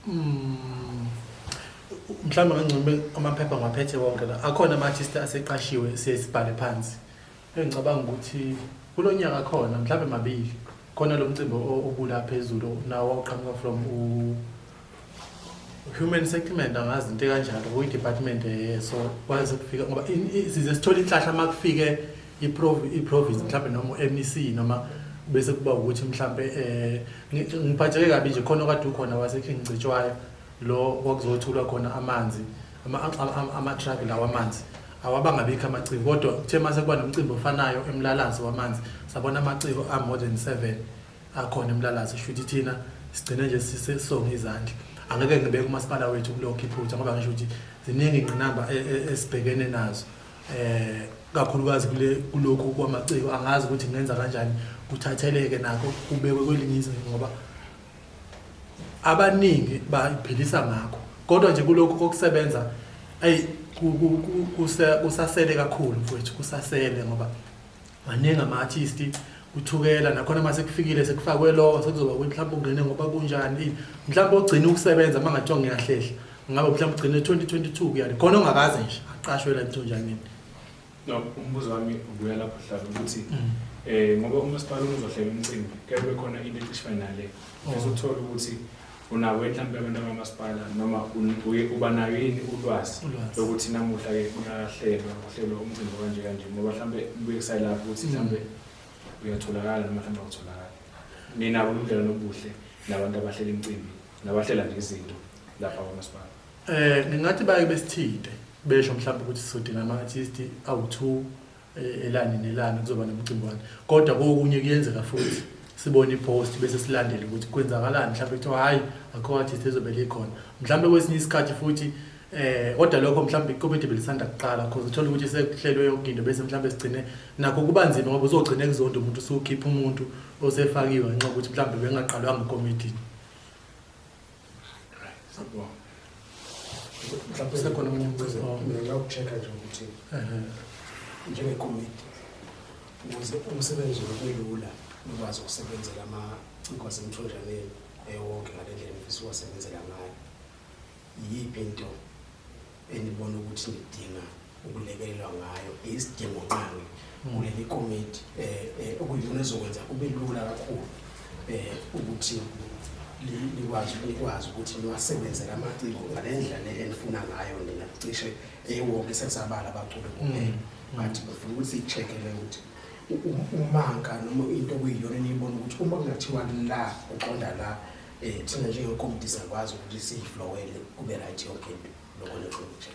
hmm. mhlawumbe kangcono amaphepha ngwaphethe wonke la akhona ama-artist aseqashiwe siye sibhale phansi Engicabanga ukuthi kulo nyaka khona mhlawumbe mabili khona lo mcimbi obula phezulu nawo oqhamuka from human settlement angazi into kanjalo kuyi-department eh, so kwaze kufika ngoba size sithole inhlahla uma kufike i-province mhlawumbe noma u-mec noma bese kuba ukuthi mhlawumbe um ngiphatheke kabi nje khona okade ukhona wasekhengicetshwayo Lo kwakuzothulwa khona amanzi ama-truck lawa amanzi awabangabikho amaciko kodwa kuthe uma sekuba nomcimbi ofanayo emlalazi wamanzi sabona amaciko a-more than seven akhona emlalazi sho ukuthi thina sigcine nje sisonge izandla angeke ngibeke umasipala wethu kulokho iphutha ngoba ngisho ukuthi ziningi ingqinamba e, e, esibhekene nazo eh kakhulukazi kule kulokhu kwamaciko angazi ukuthi ngenza kanjani kuthatheleke nakho kubekwe kwelinye izinga ngoba abaningi bayiphilisa ngakho kodwa nje kulokhu kokusebenza ayi kusasele kakhulu mfowethu kusasele ngoba maningi ama-artist kuthukela nakhona uma sekufikile sekufakwe lowo sekuzoba ukuthi mhlawumbe ungene ngoba kunjani mhlawumbe ogcina ukusebenza uma ngathiwa ngiyahlehla ngabe mhlawumbe ugcine 2022 kuyani khona ongakaze nje aqashwe la ntonjaneni No, umbuzo wami ubuya lapho hlala ukuthi mm. eh ngoba umasipala uzohlela umcimbi kuyabe bekhona into ecishe nale oh. bese uthola ukuthi unawo mhlawumbe abantu bakamasipala noma uba nayo yini ulwazi lokuthi namuhla ke kuyahlelwa kuhlelwa umcimbi kanje kanje ngoba mhlawumbe kubuye kusayilapho ukuthi mm. mhlawumbe uyatholakala noma mhlawumbe awutholakali nina ubudlelwano obuhle nabantu abahlela imicimbi nabahlela nje izinto lapha kwamasipala Eh ngingathi baye besithinte besho mhlawumbe ukuthi sizodinga ama artist awu2 eh, elani nelani kuzoba nomcimbwana kodwa kokunye kuyenzeka futhi sibone ipost bese silandele ukuthi kwenzakalani mhlawumbe kuthiwa hayi akho artist ezobe likhona mhlawumbe kwesinye isikhathi futhi eh kodwa lokho mhlawumbe ikomiti belisanda kuqala because uthola ukuthi sekuhlelwe yonke into bese mhlawumbe sigcine nakho kuba nzima ngoba uzogcina ekuzonda umuntu usukhipha umuntu osefakiwe ngenxa ukuthi mhlawumbe bengaqalwanga ikomiti mhlawumbe sekhona omunye umbuzo ngingawucheck nje ukuthi njengekomiti ukuze umsebenzi ubelula ukwazi ukusebenzela amaciko asemthonjaneni ewonke ngale ndlela ngifisa uwasebenzela ngayo yiyiphi into enibona ukuthi nidinga ukulekelelwa ngayo isidingo nqangi kuleli komiti um okuyiyona ezokwenza kube lula kakhulu um ukuthi likwazi likwazi ukuthi niwasebenze la maciko ngale ndlela enifuna ngayo nina cishe ewonke sesabala abaculi kuphela but bafuna ukuthi i-check-ele ukuthi umanka noma into okuyiyona eniyibona ukuthi uma kungathiwa la uqonda la Eh thina njengekomiti sakwazi ukuthi siyiflowele kube right yonke into lokho lokho nje.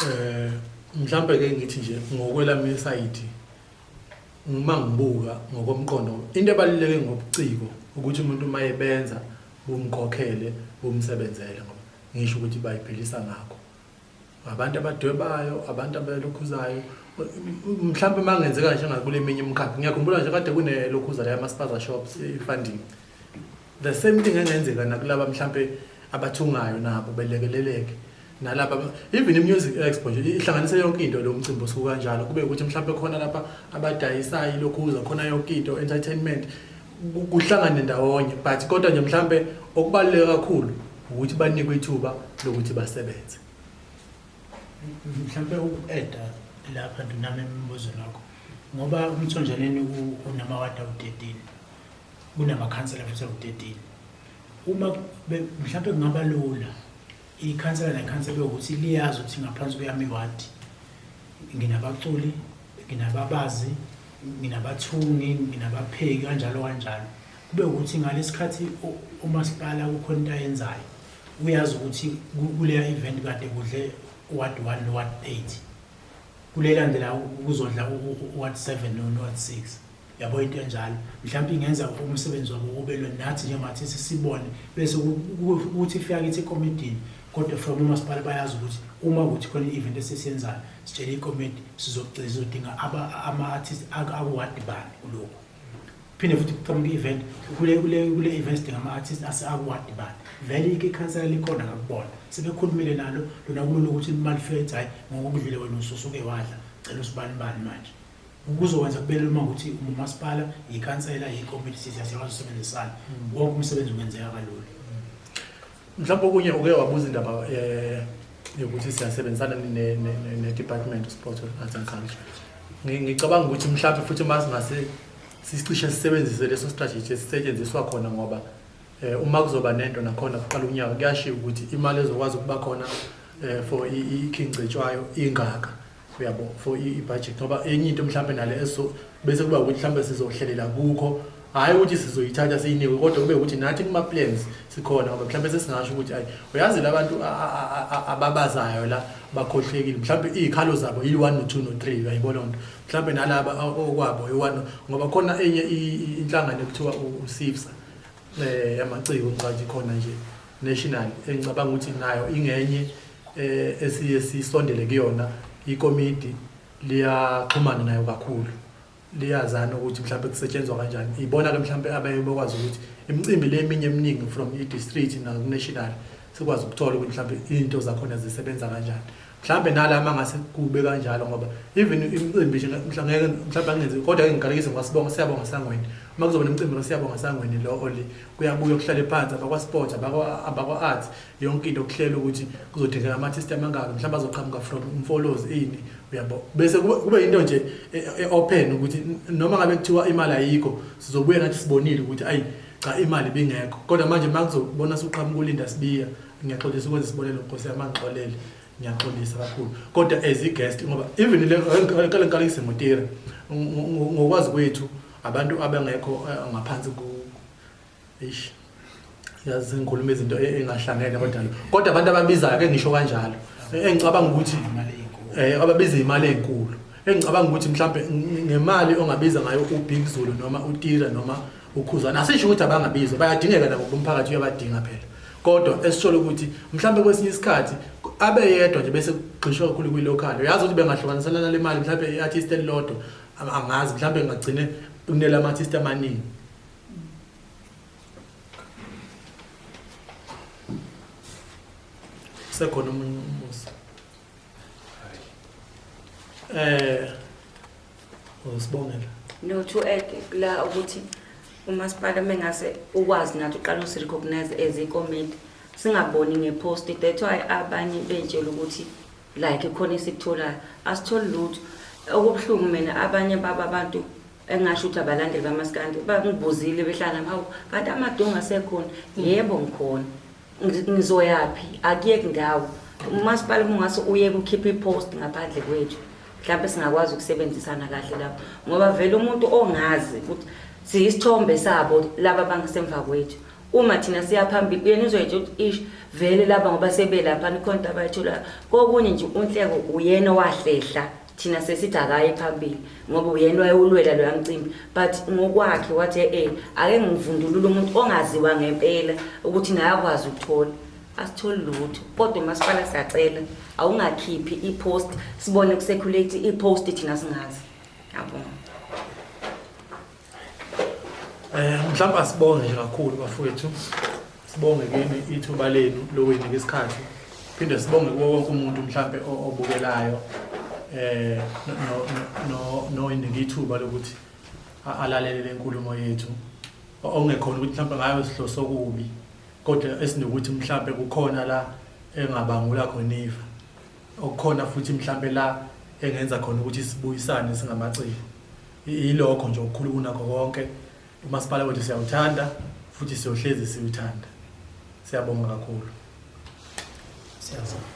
Eh mhlambe ke ngithi nje ngokwelami side uma ngibuka ngokomqondo into ebaluleke ngobuciko ukuthi umuntu uma ebenza bumkhokhele bumsebenzele ngoba ngisho ukuthi bayiphelisa ngakho Abantu abadwebayo, abantu abelokhuzayo, mhlawumbe uma kungenzeka nje ngakule minye imkhakha ngiyakhumbula nje kade kunelokhuza la yamaspaza shops i-funding the same thing engenzeka nakulaba mhlawumbe abathungayo nabo belekeleleke nalaba even i-music expo nje ihlanganise yonke into lo mcimbi osuku kanjalo kube ukuthi mhlawumbe khona lapha abadayisayo ilokhuza khona yonke into entertainment kuhlangane ndawonye but kodwa nje mhlambe okubaluleke kakhulu ukuthi banikwe ithuba lokuthi basebenze mhlambe uku-eda lapha ndinami emibuzo lakho ngoba umthonjaneni unamawadi awu-13 kunamakhansela futhi awu-13 uma mhlambe kungaba lula Ikhansela nekhansela ukuthi liyazi ukuthi ngaphansi kweyami iwadi nginabaculi, nginababazi, nginabathungi, nginabapheki kanjalo kanjalo. Kube ukuthi ngalesikhathi umasipala kukhona into ayenzayo uyazi ukuthi kuleya event kade kudle ward 1 no ward 8 kulelandela kuzodla ward 7 no ward 6 yabo into enjalo mhlawumbe ingenza umsebenzi wabo kubelwe nathi njengathi sisibone bese ukuthi ifika kithi ekomidini kodwa from umasipala bayazi ukuthi uma ukuthi khona i-event esisiyenzayo sitshele ikomiti sizogcina sizodinga ama-artist akuwadi bani kulokhu phinde futhi kuqhamuka i-event kule event sidinga ama-artist aseakuwadi bani vele ike ikhansela likhona ngakubona sebekhulumile nalo lona kulula ukuthi imali fika ethi hhayi ngokokudlile wena ususuke wadla cela usibanibani manje Ukuzokwenza kube lula uma ukuthi umasipala, yikhansela, yikomiti sithi asiyakwazi usebenzisana. Mm. Wonke umsebenzi ungenzeka kalula. Mhlawumbe okunye uke wabuza indaba eh yokuthi siyasebenzisana ne-department of sports and arts and culture ngicabanga ukuthi mhlawumbe futhi uma singase sicishe sisebenzise leso strategy esisetshenziswa khona ngoba eh, uma kuzoba nento nakhona kuqala unyaka kuyashiya ukuthi imali ezokwazi ukuba khona eh, for ikhincetshwayo ingaka uyabo for i-budget ngoba enye into mhlawumbe nale bese kuba ukuthi mhlawumbe sizohlelela kukho hhayi ukuthi sizoyithatha siyinikwe kodwa kube ukuthi nathi kuma-plans sikhona ngoba mhlawumbe sesingasho ukuthi ayi uyazi la bantu ababazayo la bakhohlekile mhlawumbe iy'khalo zabo yi-one no-two no-three uyayibona nto mhlawumbe nalaba okwabo yi-one ngoba khona enye inhlangano ekuthiwa usifsa eh yamaciko ngicathi khona nje national engicabanga ukuthi nayo ingenye eh esiye sisondele kuyona ikomidi liyaxhumana nayo kakhulu liyazana ukuthi mhlawumbe kusetshenzwa kanjani ibona ke mhlawumbe abaye bakwazi ukuthi imicimbi le eminye eminingi from i-district naku-national sikwazi ukuthola ukuthi mhlawumbe izinto zakhona zisebenza kanjani mhlambe nala uma ngase kube kanjalo ngoba even imicimbi nje mhla ngeke mhlawumbe angenzi kodwa ke ngigalekise ngoba sibonga siyabonga sangweni uma kuzoba nemicimbi lo siyabonga sangweni lo oli kuyabuya kuhlale phansi abakwa sports abakwa abakwa arts yonke into okuhlela ukuthi kuzodingeka ama artist amangaka mhlawumbe azoqhamuka from umfolozi ini uyabo bese kube into nje e, e, open ukuthi noma ngabe kuthiwa imali ayikho sizobuya nathi sibonile ukuthi ayi cha imali bingekho kodwa manje uma kuzobona suqhamuka ulinda sibiya ngiyaxolisa ukwenza isibonelo nkosi yami angixolele ngiyaxolisa kakhulu kodwa as i-guest ngoba even kale nkalo isemotira ngokwazi kwethu abantu abangekho eh, ngaphansi ku eish yazi ngikhuluma izinto e-, engahlangene kodwa kodwa abantu ababizayo ke ngisho kanjalo e-, engicabanga ukuthi eh ababiza imali ezinkulu engicabanga ukuthi mhlambe ngemali ongabiza ngayo uBig Zulu noma uTira noma ukhuzana asisho ukuthi abangabizwa bayadingeka nabo umphakathi uyabadinga phela kodwa esisholo ukuthi mhlawumbe kwesinye isikhathi abe yedwa nje bese kugxishwa kakhulu kwi-local uyazi ukuthi bengahlukanisana nale mali mhlawumbe i-artist elilodwa angazi mhlawumbe ngagcine kunela ama-artist amaningi sekhona omunye umusa Eh usibongela. No to add la ukuthi umasipala mengase ukwazi nathi uqala usi recognize as a comment singaboni ngepost that's why abanye betshela ukuthi like khona isikutholayo asitholi lutho okubuhlungu mina abanye baba abantu engasho ukuthi abalandeli bamaskandi bangibuzile behlala hawu kanti amadonga asekhona yebo ngikhona Ngi- ngizoyaphi akuyeki ndawo umasipala uma ungase uyeke ukhiphe ipost ngaphandle kwethu mhlawumbe singakwazi ukusebenzisana kahle lapho ngoba vele umuntu ongazi ukuthi siyisithombe sabo laba bangasemva kwethu uma thina siya phambili uyena uzoyetsha ukuthi ish vele laba ngoba sebelapha nikhona into abayitholayo kokunye nje unhleko uyena owahlehla thina sesithi akaye phambili ngoba uyena wayewulwela loya mcimbi but ngokwakhe wathi e-e ake ngivundulule umuntu ongaziwa ngempela ukuthi naye akwazi ukuthola asitholi lutho kodwa umasipala siyacela awungakhiphi i-post sibone kusekhulate i-post thina singazi yabonga Eh mhlawumbe asibonge nje kakhulu bafowethu. Sibonge kini ithuba lenu lokuyinika isikhathi. Phinde sibonge kuwo wonke umuntu mhlawumbe o- obukelayo eh no- no- no noyinika ithuba lokuthi a- alalele lenkulumo yethu. O- Okungekhona ukuthi mhlawumbe ngayo sihloso okubi kodwa esinokuthi mhlawumbe kukhona la engabangula khona ifa. Okukhona futhi mhlawumbe la engenza khona ukuthi sibuyisane singamaciko. Yilokho nje okukhulu kunakho konke, umasipala wethu siyawuthanda futhi siyohlezi siwuthanda. Siyabonga kakhulu. Siyabonga.